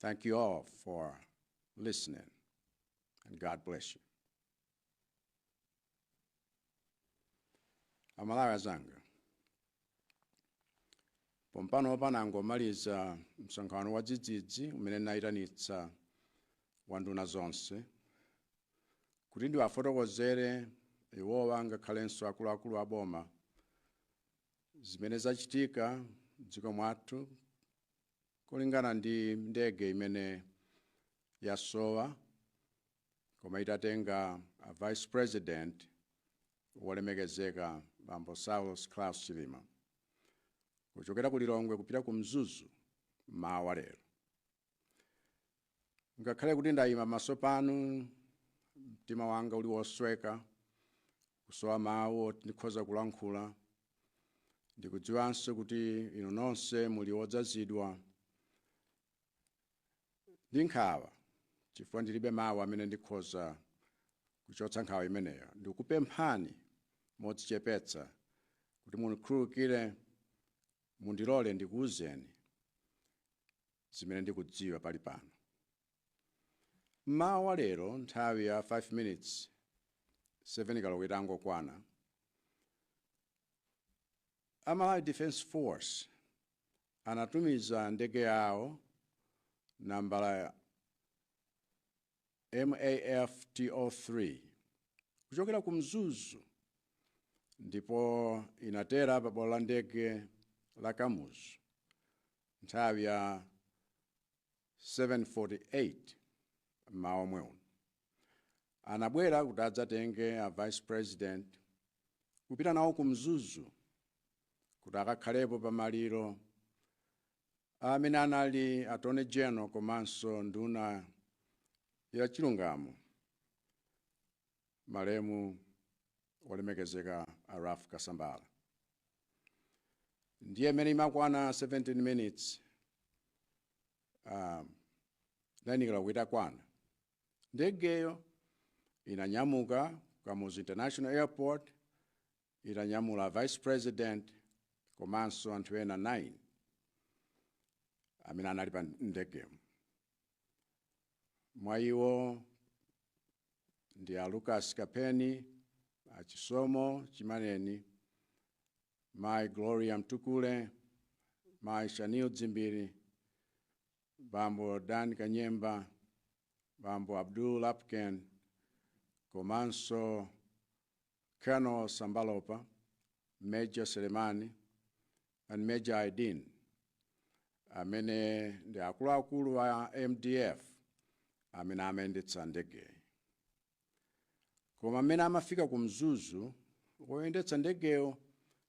Thank you all for listening, and God bless you. Amalawi azanga pompanopa nangomaliza msonkhano wa dzidzidzi umene nayitanitsa wa nduna zonse kuti ndiwafotokozere iwowa ngakhalenso akuluakulu a boma zimene zachitika m'dziko mwathu kulingana ndi ndege imene yasowa koma itatenga a vice president wolemekezeka bambo Saulos Klaus Chilima kuchokera ku Lilongwe kupita ku Mzuzu m'mawa wa lero. Ngakhale kuti ndaima pamaso panu, mtima wanga uli wosweka, kusowa mawu oti ndikhoza kulankhula. Ndikudziwanso kuti inu nonse muli odzazidwa ndi nkhawa chifukwa ndilibe mawu amene ndikhoza kuchotsa nkhawa imeneyo. Ndikupemphani modzichepetsa kuti mundikhululukire, mundilole ndikuuzeni zimene ndikudziwa pali pano. M'mawa wa lero nthawi ya 5 minutes 7 koloko itangokwana, a Malawi Defence Force anatumiza ndege yawo nambala MAF-T03 kuchokera ku Mzuzu ndipo inatera pa bwalo la ndege la Kamuzu nthawi ya 7:48 m'mawa omwe uno. Anabwera kuti adzatenge a Vice President kupita nawo ku Mzuzu kuti akakhalepo pa maliro amene anali Attorney General komanso nduna ya chilungamo malemu olemekezeka a Ralph Kasambara ndiye m'mene imakwana 17 minutes um, 9 koloko itakwana ndegeyo inanyamuka Kamuzu International Airport itanyamula Vice President komanso anthu ena 9 amene anali pa ndegemo. Mwa iwo ndi a Lukas Kapheni, a Chisomo Chimaneni, Mayi Gloria Mtukule, Mayi Shanil Dzimbiri, Bambo Dan Kanyemba, Bambo Abdul Lapukeni komanso Colonel Sambalopa, Major Selemani and Major Aidin amene ndi akuluakulu a MDF amene amayendetsa ndegeyi. Koma mmene amafika ku Mzuzu, woyendetsa ndegeyo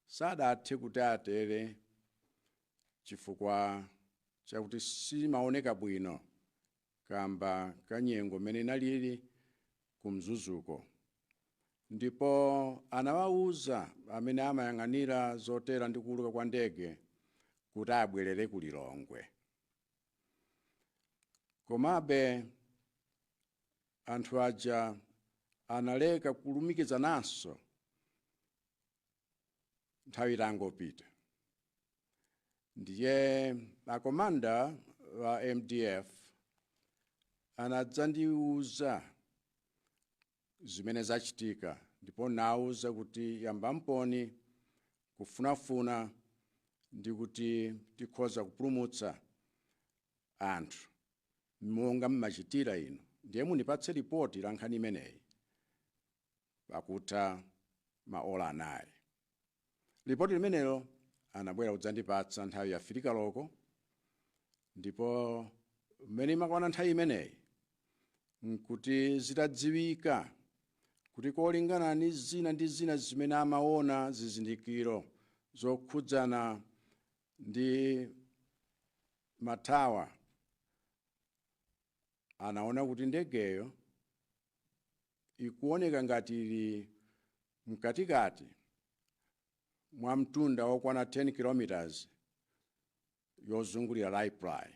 sadathe kuti atere chifukwa chakuti simaoneka bwino kamba ka nyengo mmene inalili ku mzuzuko ndipo anawauza amene amayang'anira zotera ndi kuuluka kwa ndege kuti abwerere ku lilongwe komabe anthu aja analeka kulumikizananso nthawi itangopita ndiye akomanda wa mdf anadzandiuza zimene zachitika ndipo nawauza kuti yambamponi kufunafuna ndi kuti tikhoza kupulumutsa anthu monga mmachitira inu ndiye mundipatse lipoti la nkhani imeneyi pakutha maola anayi. Lipoti limenelo anabwera kudzandipatsa nthawi ya fili koloko ndipo mmene imakwana nthawi imeneyi n'kuti zitadziwika kuti kolingana ni zina ndi zina zimene amaona zizindikiro zokhudzana ndi matawa anaona kuti ndegeyo ikuoneka ngati ili mkatikati mwa mtunda wokwana 10 km yozungulira Raiply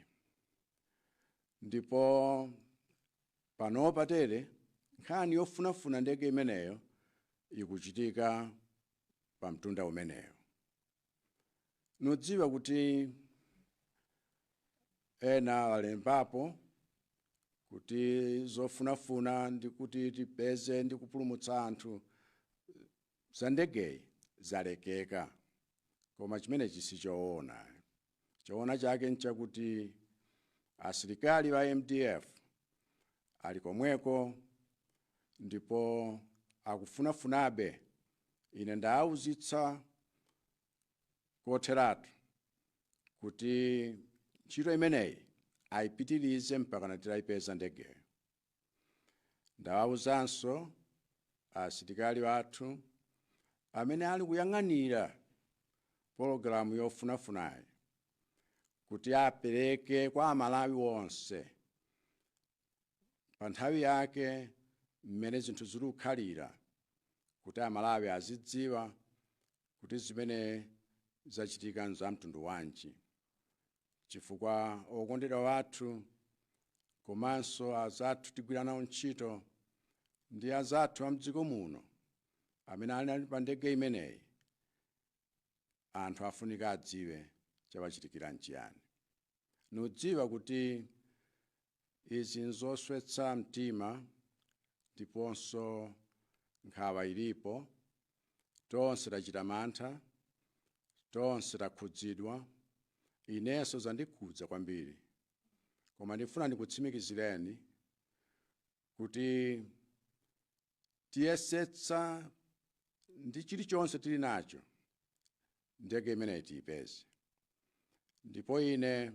ndipo panopa tere nkhani yofunafuna ndege imeneyo ikuchitika pa mtunda umeneyo ndudziwa kuti ena alembapo kuti zofunafuna ndi kuti tipeze ndi kupulumutsa anthu za ndegeyi zalekeka koma chimenechi si choona choona chake nchakuti asilikali wa mdf ali komweko ndipo akufunafunabe Ine ndawauzitsa kotheratu kuti ntchito imeneyi aipitirize mpakana titaipeza ndegeyo. Ndawauzanso asilikali athu amene ali kuyang'anira pologalamu yofunafunayi kuti apereke kwa Amalawi onse panthawi yake mmene zinthu zili kukhalira kuti Amalawi azidziwa kuti zimene zachitika n'zamtundu wanji chifukwa okondedwa athu komanso anzathu tigwira nawo ntchito ndi anzathu a m'dziko muno amene anali pa ndege imeneyi, anthu afunika adziwe chawachitikira n'chiyani. ndikudziwa kuti izi nzoswetsa mtima ndiponso nkhawa ilipo, tonse tachita mantha, tonse takhudzidwa, inenso zandikhudza kwambiri. Koma ndifuna ndikutsimikizireni kuti tiyesetsa ndi chilichonse tili nacho ndege imeneyi tiyipeze ndipo ine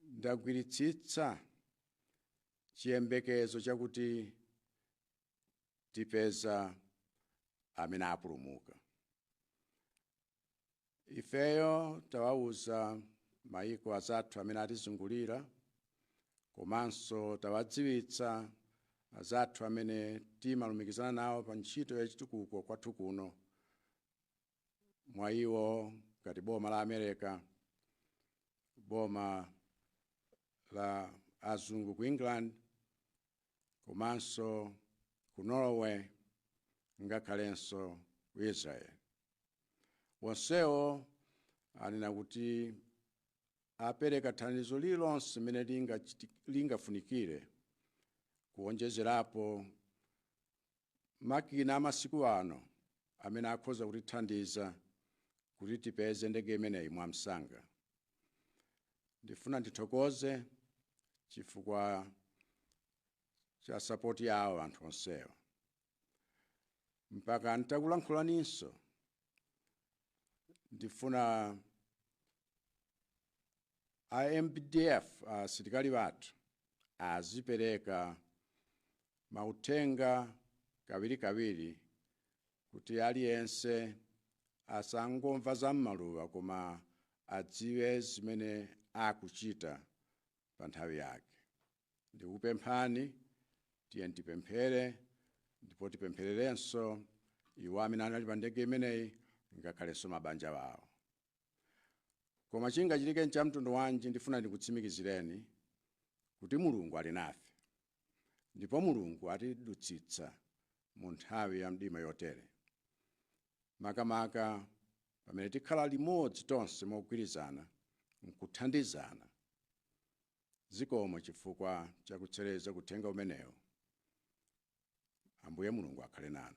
ndagwiritsitsa chiyembekezo chakuti tipeza amene apulumuka ifeyo tawauza mayiko azathu amene atizungulira komanso tawadziwitsa azathu amene timalumikizana nawo pa ntchito ya chitukuko kwathu kuno mwa iwo ngati boma la america boma la azungu ku england komanso ku Norway ngakhalenso ku Israel. Onsewo anena kuti apereka thandizo lililonse limene lingafunikire kuwonjezerapo makina amasiku ano amene akhoza kutithandiza kuti tipeze ndege imeneyi mwamsanga. Ndifuna ndithokoze chifukwa cha sapoti yawo anthu onsewo. Mpaka ntakulankhulaninso, ndifuna A MDF asilikali athu azipereka mauthenga kawirikawiri kuti aliyense asangomva za m'maluwa koma adziwe zimene akuchita pa nthawi yake. Ndikupemphani tiyeni tipemphere ndipo tipemphererenso iwo amene anali pa ndege imeneyi ngakhalenso mabanja awo. Koma chingachitike nchamtundu wanji, ndifuna ndikutsimikizireni kuti Mulungu ali nafe, ndipo Mulungu atidutsitsa mu nthawi ya mdima yotere, makamaka pamene tikhala limodzi tonse mogwirizana m'kuthandizana. Zikomo chifukwa cha kutchereza uthenga umenewu. Ambuye Mulungu akhale nanu.